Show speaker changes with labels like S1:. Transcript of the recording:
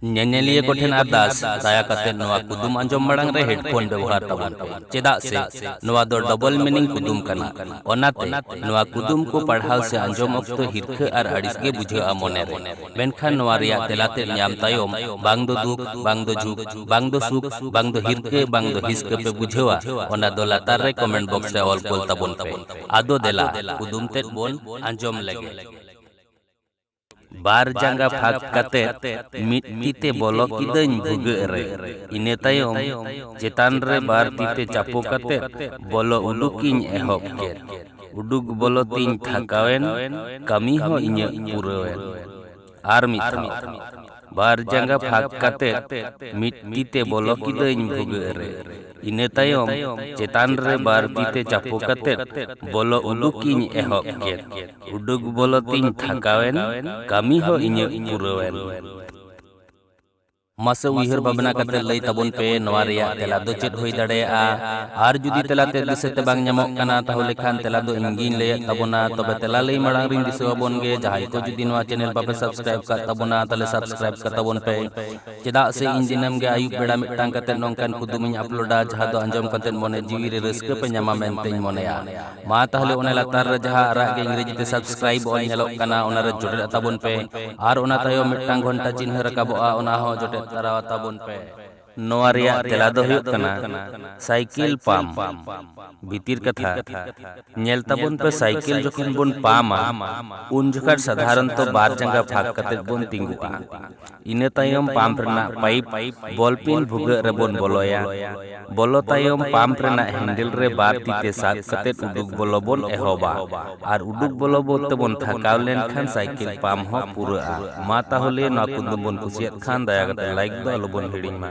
S1: ᱧᱮᱧᱮᱞᱤᱭᱟᱹ ᱠᱚ ᱴᱷᱮᱱ ᱟᱨᱫᱟᱥ ᱫᱟᱭᱟ ᱠᱟᱛᱮ ᱱᱚᱣᱟ ᱠᱩᱫᱩᱢ ᱟᱸᱡᱚᱢ ᱢᱟᱲᱟᱝ ᱨᱮ ᱦᱮᱰᱯᱷᱳᱱ ᱵᱮᱣᱦᱟᱨ ᱛᱟᱵᱚᱱ ᱯᱮ ᱪᱮᱫᱟᱜ ᱥᱮ ᱱᱚᱣᱟ ᱫᱚ ᱰᱚᱵᱚᱞ ᱢᱤᱱᱤᱝ ᱠᱩᱫᱩᱢ ᱠᱟᱱᱟ ᱚᱱᱟᱛᱮ ᱱᱚᱣᱟ ᱠᱩᱫᱩᱢ ᱠᱚ ᱯᱟᱲᱦᱟᱣ ᱥᱮ ᱟᱸᱡᱚᱢ ᱚᱠᱛᱚ ᱦᱤᱨᱠᱷᱟᱹ ᱟᱨ ᱟᱹᱲᱤᱥ ᱜᱮ ᱵᱩᱡᱷᱟᱹᱜᱼᱟ ᱢᱚᱱᱮ ᱨᱮ ᱢᱮᱱᱠᱷᱟᱱ ᱱᱚᱣᱟ ᱨᱮᱭᱟᱜ ᱛᱮᱞᱟ ᱛᱮᱫ ᱧᱟᱢ ᱛᱟᱭᱚᱢ ᱵᱟᱝ ᱫᱚ ᱫᱩᱠ ᱵᱟᱝ ᱫᱚ ᱡᱷᱩᱠ ᱵᱟᱝ ᱫᱚ ᱥᱩᱠ ᱵᱟᱝ ᱫᱚ ᱦᱤᱨᱠᱟᱹ ᱵᱟᱝ ᱫᱚ ᱦᱤᱥᱠᱟᱹ ᱯᱮ ᱵᱩᱡᱷᱟᱹᱣᱟ ᱚᱱᱟ ᱫᱚ ᱞᱟᱛᱟᱨ ᱨᱮ ᱠᱚᱢᱮᱱᱴ ᱵᱚᱠᱥ ᱨᱮ ᱚᱞ ᱠᱳᱞ ᱛᱟᱵᱚᱱ ᱯᱮ ᱟᱫᱚ ᱫᱮᱞᱟ ᱠᱩᱫᱩᱢ ᱛᱮᱫ ᱵᱚᱱ ᱟᱸᱡᱚᱢ ᱞᱮᱜᱮ ᱵᱟᱨ ᱡᱟᱸᱜᱟ ᱯᱷᱟᱸᱠ ᱠᱟᱛᱮ ᱢᱤᱫ ᱛᱤ ᱛᱮ ᱵᱚᱞᱚ ᱠᱤᱫᱟᱹᱧ ᱵᱷᱩᱜᱟᱹᱜ ᱨᱮ᱾ ᱤᱱᱟᱹ ᱛᱟᱭᱚᱢ ᱪᱮᱛᱟᱱ ᱨᱮ ᱵᱟᱨ ᱛᱤ ᱛᱮ ᱪᱟᱯᱚ ᱠᱟᱛᱮ ᱵᱚᱞᱚ ᱩᱰᱩᱠ ᱤᱧ ᱮᱦᱚᱵ ᱠᱮᱫ᱾ ᱩᱰᱩᱠ ᱵᱚᱞᱚ ᱛᱤᱧ ᱛᱷᱟᱠᱟᱣ ᱮᱱ, ᱠᱟᱹᱢᱤ ᱦᱚᱸ ᱤᱧᱟᱹᱜ ᱯᱩᱨᱟᱹᱣ ᱮᱱ᱾ ᱟᱨ ᱢᱤᱫ ᱫᱷᱟᱣ᱾ ᱵᱟᱨ ᱡᱟᱸᱜᱟ ᱯᱷᱟᱸᱠ ᱠᱟᱛᱮ ᱢᱤᱫ ᱛᱤ ᱛᱮ ᱵᱚᱞᱚ ᱠᱤᱫᱟᱹᱧ ᱵᱷᱩᱜᱟᱹᱜ ᱨᱮ ᱤᱱᱟᱹ ᱛᱟᱭᱚᱢ ᱪᱮᱛᱟᱱ ᱨᱮ ᱵᱟᱨ ᱛᱤ ᱛᱮ ᱪᱟᱯᱚ ᱠᱟᱛᱮ ᱵᱚᱞᱚ ᱩᱰᱩᱠᱤᱧ ᱮᱦᱚᱵ ᱠᱮᱫ ᱩᱰᱩᱠ ᱵᱚᱞᱚ ᱛᱤᱧ ᱛᱷᱟᱠᱟᱣᱮᱱ ᱠᱟᱹᱢᱤ ᱦᱚᱸ ᱤᱧᱟᱹᱜ ᱯᱩᱨᱟᱹᱣᱮᱱ ᱢᱟᱥᱮ ᱩᱭᱦᱟᱹᱨ ᱵᱷᱟᱵᱽᱱᱟ ᱠᱟᱛᱮ ᱞᱟᱹᱭ ᱛᱟᱵᱚᱱ ᱯᱮ ᱱᱚᱣᱟ ᱨᱮᱭᱟᱜ ᱛᱮᱞᱟ ᱫᱚ ᱪᱮᱫ ᱦᱩᱭ ᱫᱟᱲᱮᱭᱟᱜᱼᱟ ᱟᱨ ᱡᱩᱫᱤ ᱛᱮᱞᱟ ᱛᱮ ᱫᱤᱥᱟᱹ ᱛᱮ ᱵᱟᱝ ᱧᱟᱢᱚᱜ ᱠᱟᱱᱟ ᱛᱟᱦᱚᱞᱮ ᱠᱷᱟᱱ ᱛᱮᱞᱟ ᱫᱚ ᱤᱧ ᱜᱤᱧ ᱞᱟᱹᱭᱮᱫ ᱛᱟᱵᱚᱱᱟ ᱛᱚᱵᱮ ᱛᱮᱞᱟ ᱞᱟᱹᱭ ᱢᱟᱲᱟᱝ ᱨᱤᱧ ᱫᱤᱥᱟᱹ ᱟᱵᱚᱱ ᱜᱮ ᱡᱟᱦᱟᱸᱭ ᱠᱚ ᱡᱩᱫᱤ ᱱᱚᱣᱟ ᱪᱮᱱᱮᱞ ᱵᱟᱯᱮ ᱥᱟᱵᱥᱠᱨᱟᱭᱤᱵ ᱠᱟᱜ ᱛᱟᱵᱚᱱᱟ ᱛᱟᱦᱚᱞᱮ ᱥᱟᱵᱥᱠᱨᱟᱭᱤᱵ ᱠᱟᱜ ᱛᱟᱵᱚᱱ ᱯᱮ ᱪᱮᱫᱟᱜ ᱥᱮ ᱤᱧ ᱫᱤᱱᱟᱹᱢ ᱜᱮ ᱟᱹᱭᱩᱵ ᱵᱮᱲᱟ ᱢᱤᱫᱴᱟᱝ ᱠᱟᱛᱮ ᱱᱚᱝᱠᱟᱱ ᱠᱩᱫᱩᱢ ᱤᱧ ᱟᱯᱞᱳᱰᱟ ᱡᱟᱦᱟᱸ ᱫᱚ ᱟᱸᱡᱚᱢ ᱠᱟᱛᱮ ᱢᱚᱱᱮ ᱡᱤᱣᱤ ᱨᱮ ᱨᱟᱹᱥᱠᱟᱹ ᱯᱮ ᱧᱟᱢᱟ ᱢᱮᱱᱛᱮᱧ ᱢᱚᱱᱮᱭᱟ ᱢᱟ ᱛᱟᱦᱚᱞᱮ ᱚᱱᱟ ᱞᱟᱛᱟᱨ ᱨᱮ ᱡᱟᱦᱟᱸ ᱟᱨᱟᱜ ᱜᱮ ᱤᱝᱨᱮᱡᱤ ᱛᱮ ᱥᱟᱵᱥᱠᱨᱟᱭᱤᱵ ᱚᱞ ᱧᱮᱞᱚᱜ ᱠᱟᱱᱟ ᱚᱱᱟ ᱨᱮ ᱡᱚᱴᱮᱫ ᱛᱟᱵᱚᱱ ᱯᱮ ᱟᱨ ᱚᱱᱟ ᱛᱟᱭᱚᱢ ᱢᱤᱫᱴᱟᱝ ᱜᱷᱚᱱᱴᱟ ᱪᱤᱱᱦᱟᱹ ᱨᱟᱠᱟᱵᱚᱜᱼᱟ ᱚᱱᱟ ᱦᱚᱸ ᱡᱚᱴᱮᱫ ᱛᱟᱨᱟᱣᱟ ᱛᱟᱵᱚᱱ ᱯᱮ ᱱᱚᱣᱟ ᱨᱮᱭᱟᱜ ᱛᱮᱞᱟ ᱫᱚ ᱦᱩᱭᱩᱜ ᱠᱟᱱᱟ ᱥᱟᱭᱠᱤᱞ ᱯᱟᱢ᱾ ᱵᱷᱤᱛᱤᱨ ᱠᱟᱛᱷᱟ, ᱧᱮᱞ ᱛᱟᱵᱚᱱ ᱯᱮ ᱥᱟᱭᱠᱤᱞ ᱡᱚᱠᱷᱚᱱ ᱵᱚᱱ ᱯᱟᱢᱟ ᱩᱱ ᱡᱚᱠᱷᱟᱴ ᱥᱟᱫᱷᱟᱨᱚᱱᱛᱚ ᱵᱟᱨ ᱡᱟᱸᱜᱟ ᱯᱷᱟᱸᱠ ᱠᱟᱛᱮ ᱵᱚᱱ ᱛᱤᱸᱜᱩᱜᱼᱟ᱾ ᱤᱱᱟᱹ ᱛᱟᱭᱚᱢ ᱯᱟᱢᱯ ᱨᱮᱱᱟᱜ ᱯᱟᱭᱤᱯ ᱵᱚᱞ ᱯᱤᱱ ᱵᱷᱩᱜᱟᱹᱜ ᱨᱮ ᱵᱚᱱ ᱵᱚᱞᱚᱭᱟ᱾ ᱵᱚᱞᱚ ᱛᱟᱭᱚᱢ ᱯᱟᱢᱯ ᱨᱮᱱᱟᱜ ᱦᱮᱱᱰᱮᱞ ᱨᱮ ᱵᱟᱨ ᱛᱤ ᱛᱮ ᱥᱟᱵ ᱠᱟᱛᱮ ᱩᱰᱩᱠ ᱵᱚᱞᱚ ᱵᱚᱱ ᱮᱦᱚᱵᱟ᱾ ᱟᱨ ᱩᱰᱩᱠ ᱵᱚᱞᱚ ᱵᱚᱞ ᱛᱮᱵᱚᱱ ᱛᱷᱟᱠᱟᱣ ᱞᱮᱱᱠᱷᱟᱱ ᱥᱟᱭᱠᱮᱞ ᱯᱟᱢ ᱦᱚᱸ ᱯᱩᱨᱟᱹᱜᱼᱟ ᱢᱟ ᱛᱟᱦᱚᱞᱮ ᱱᱚᱣᱟ ᱠᱩᱫᱩᱢ ᱵᱚᱱ ᱠᱩᱥᱤᱭᱟᱫ ᱠᱷᱟᱱ ᱫᱟᱭᱟ ᱠᱟᱛᱮ ᱞᱟᱭᱤᱠ ᱫᱚ ᱟᱞᱚᱵᱚᱱ ᱦᱤᱲᱤᱧ ᱢᱟ